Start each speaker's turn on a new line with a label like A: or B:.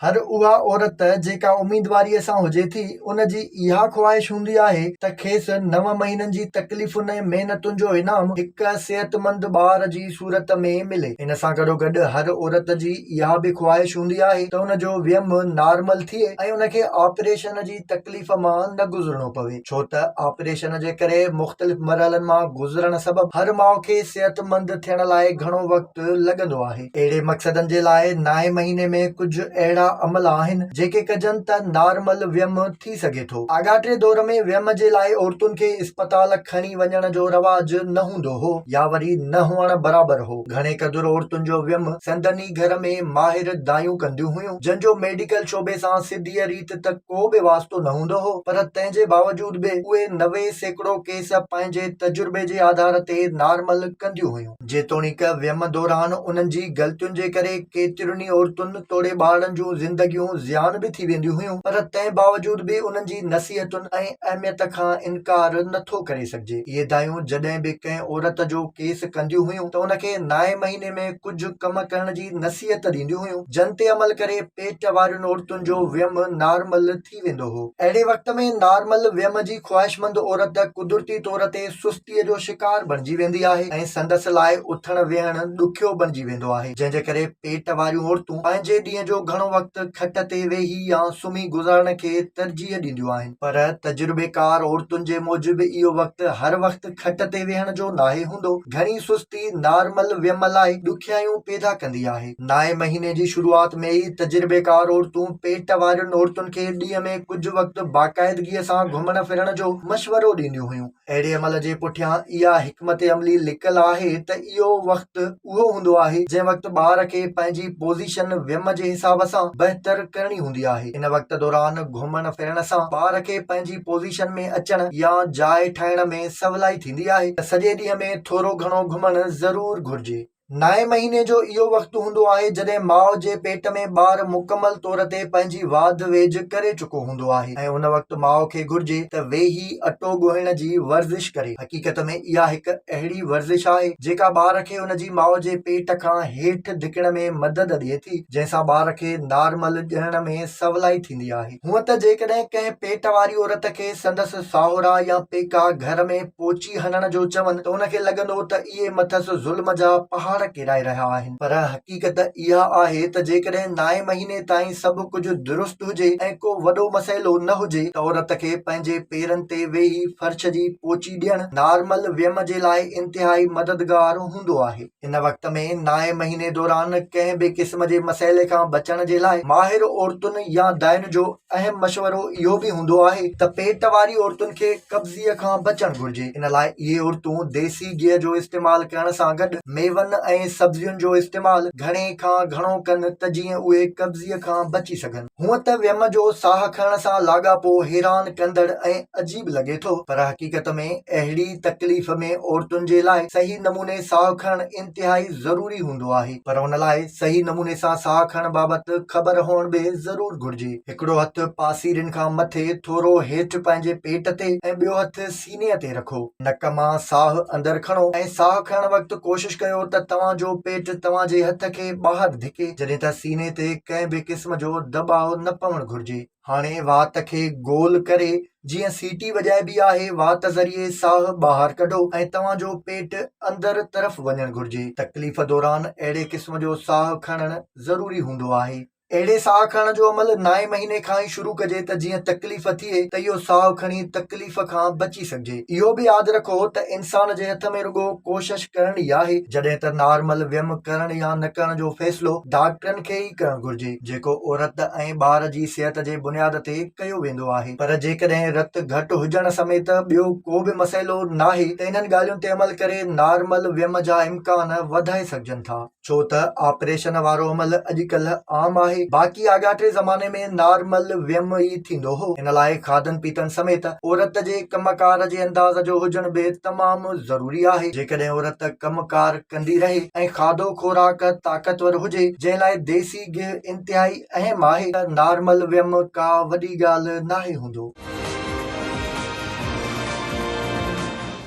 A: هر اها عورت جيڪا اميدواريء سان هجي ٿي، ان جي اها خواهش هوندي آهي ته کيس نو مهينن جي تڪليفن ۽ محنتن جو انعام هڪ صحتمند ٻار جي صورت ۾ ملي. ان سان گڏوگڏ هر عورت جي اها به خواهش هوندي آهي ته ان جو ويم نارمل ٿئي ۽ ان کي آپريشن جي تڪليف مان نه گذرڻو پوي، ڇو ته آپريشن جي ڪري مختلف مرحلن مان گذرڻ سبب هر ماء کي صحتمند ٿيڻ لاء گهڻو وقت لڳندو آهي. اهڙي مقصدن جي لاء نائين مهيني ۾ ڪجهه اهڙا عمل آهن جيڪي ڪجن ته نارمل ويم ٿي سگهي ٿو. آڳاٽي دور ۾ ويم جي لاء عورتن کي اسپتال کڻي وڃڻ جو رواج نه هوندو هو يا وري نه هئڻ برابر هو. گهڻي قدر عورتن جو ويم سندن ئي گهر ۾ ماهر دايون ڪنديون هيون جن جو ميڊيڪل شعبي سان سڌيء ريت ته ڪو به واسطو نه هوندو هو پر تنهن جي باوجود به اهي نوي سيڪڙو ڪيس پنهنجي تجربي جي آڌار تي نارمل ڪنديون هيون. جيتوڻيڪ ويم دوران انهن جي غلطين جي ڪري ڪيترين ئي عورتن توڙي ٻارڙن جون زندگيون زيان به ٿي وينديون هيون پر تنهن باوجود به انهن جي نصيحتن ۽ اهميت کان انڪار نه ٿو ڪري سگهجي. اهي دايون جڏهن به ڪنهن عورت جو ڪيس ڪنديون هيون ته ان کي نائين مهيني ۾ ڪجهه ڪم ڪرڻ جي نصيحت ڏينديون هيون جن تي عمل ڪري پيٽ وارين عورتن جو ويم نارمل ٿي ويندو هو. اهڙي وقت ۾ نارمل ويم جي خواهشمند عورت قدرتي طور تي سستيء جو شڪار بڻجي ويندي آهي ۽ سندس لاء اٿڻ ويهڻ ڏکيو بڻجي ويندو آهي، جنهن جي ڪري پيٽ واريون عورتون پنهنجي ڏينهن جو گهڻو وقت کٽ تي ويهي يا سمهي گذارڻ کي ترجيح ڏينديون آهن. پر تجربيڪار عورتن جي موجب اهو وقت هر وقت کٽ تي ويهڻ جو ناهي هوندو. گهڻي سستي نارمل ويم لاء ڏکيائيون پيدا ڪندي آهي. نائين مهيني جي شروعات ۾ ئي تجربيڪار عورتون پيٽ وارين عورتن کي ڏينهن ۾ ڪجهه وقت باقاعدگيء سان گهمڻ ڦرڻ جو مشورو ڏينديون هيون. اهڙي عمل جي پٺيان اها حڪمت عملي لڪل آهي ته اهو وقت اهو هوندو آهي جنهن وقت ٻار کي پنهنجي پوزيشن ويم جي حساب سان بهتر ڪرڻي هوندي آهي. ان وقت دوران گهمڻ ڦرڻ سان ٻار کي پنهنجي پوزيشن ۾ اچڻ يا جاء ٺاهڻ ۾ سولائي ٿيندي آهي ته سڄي ڏينهن ۾ ٿورو گهڻو گهمڻ ضرور گهرجي. نائين مهيني جو اهو وقت هوندو آهي جڏهن ماء جي پيٽ ۾ ٻار مڪمل طور تي پنهنجي واڌ ويجهه ڪري چڪو هوندو آهي ۽ ان وقت ماء کي گهرجي ته ويهي اٽو ڳوهڻ جي ورزش ڪري. حقيقت ۾ اها هڪ اهڙي ورزش آهي جيڪا ٻار کي ان جي ماء جي پيٽ کان هيٺ ڌڪڻ ۾ مدد ڏئي ٿي جنهن سان ٻار کي نارمل ڄڻڻ ۾ سولائي ٿيندي آهي. هونئن ته جيڪڏهن ڪنهن پيٽ واري عورت کي سندس ساهرا يا پيڪا گهر ۾ پوچي هڻڻ جو چون ته ان کي لڳندو ته اهي مٿس ظلم جا پهاڙ ڪيرائي رهيا آهن پر حقيقت اها آهي ته جيڪڏهن نائين مهيني تائين سڀ ڪجهه درست هجي ۽ ڪو وڏو مسئلو نه هجي ته عورت کي پنهنجي پيرن تي ويهي فرش جي پوچي ڏيڻ نارمل ويم جي لاء انتهائي مددگار هوندو آهي. ان وقت ۾ نائين مهيني دوران ڪنهن به قسم جي مسئلي کان بچڻ جي لاء ماهر عورتن يا دائين جو اهم مشورو اهو به هوندو آهي ته پيٽ واري عورتن کي قبضي کان بچڻ گهرجي ان لاء اهي عورتون ديسي گيهه جو استعمال ڪرڻ سان گڏ ميون ۽ سبزين جو استعمال گهڻي کان گهڻو ڪن ته جيئن اهي قبضي کان بچي سگهن. هونئن ته ويم جو ساهه کڻڻ سان لاڳاپو حيران ڪندڙ ۽ عجيب لڳي ٿو پر حقيقت ۾ اهڙي تڪليف ۾ عورتن جي لاء صحيح نموني ساهه کڻڻ انتهائي ضروري هوندو آهي پر ان لاء صحيح نموني سان ساهه کڻڻ بابت خبر هئڻ به ضرور گهرجي. هڪڙو هٿ پاسيرين کان مٿي ٿورو هيٺ پنهنجي پيٽ تي ۽ ٻيو هٿ سيني تي رکو. نڪ مان ساهه اندر کڻو ۽ ساهه کڻڻ وقت ڪوشش ڪيو ته توهان جو پيٽ توهان جي هٿ کي ٻاهر ڌڪي جڏهن ته سيني تي ڪنهن به قسم جو دٻاء نه پوڻ گهرجي. هاڻي وات کي گول ڪري جيئن سيٽي وڄائبي آهي وات ذريعي ساهه ٻاهر ڪڍو ۽ توهان جو پيٽ اندر طرف وڃڻ گهرجي. تڪليف دوران اهڙي قسم جو ساهه کڻڻ ضروري هوندو آهي. اهڙي ساهه کڻڻ جو عمل نائين مهيني کان ئي شروع ڪجي ته جيئن تڪليف ٿئي ته اهو ساهه کڻي تڪليف کان بچي سگهجي. اهو به ياد رکو ته انسان جي هٿ ۾ رڳو ڪوشش ڪرڻ ئي آهي جڏهن ته نارمل ويم ڪرڻ يا نه ڪرڻ جو فيصلو ڊاڪٽرن کي ئي ڪرڻ گهرجي جيڪو عورت ۽ ٻار جي صحت جي بنياد تي ڪيو ويندو آهي پر جيڪڏهن رت گهٽ هجڻ سميت ٻيو ڪو به مسئلو ناهي ته انهن ڳالهين تي عمل ڪري نارمل ويم جا امڪان وڌائي سگهجن ٿا. ڇو ته آپريشن وارو عمل اڄڪلهه عام آهي، باقي آڳاٽي زماني ۾ نارمل ويم ئي ٿيندو هو، ان لاء کاڌن پيتن سميت عورت جي ڪم ڪار جي انداز جو هجڻ به تمام ضروري آهي، جيڪڏهن عورت ڪم ڪار ڪندي رهي ۽ کاڌو خوراڪ طاقتور هجي، جنهن لاء ديسي گيهه انتهائي اهم آهي، ته نارمل ويم ڪا وڏي ڳالهه ناهي هوندو.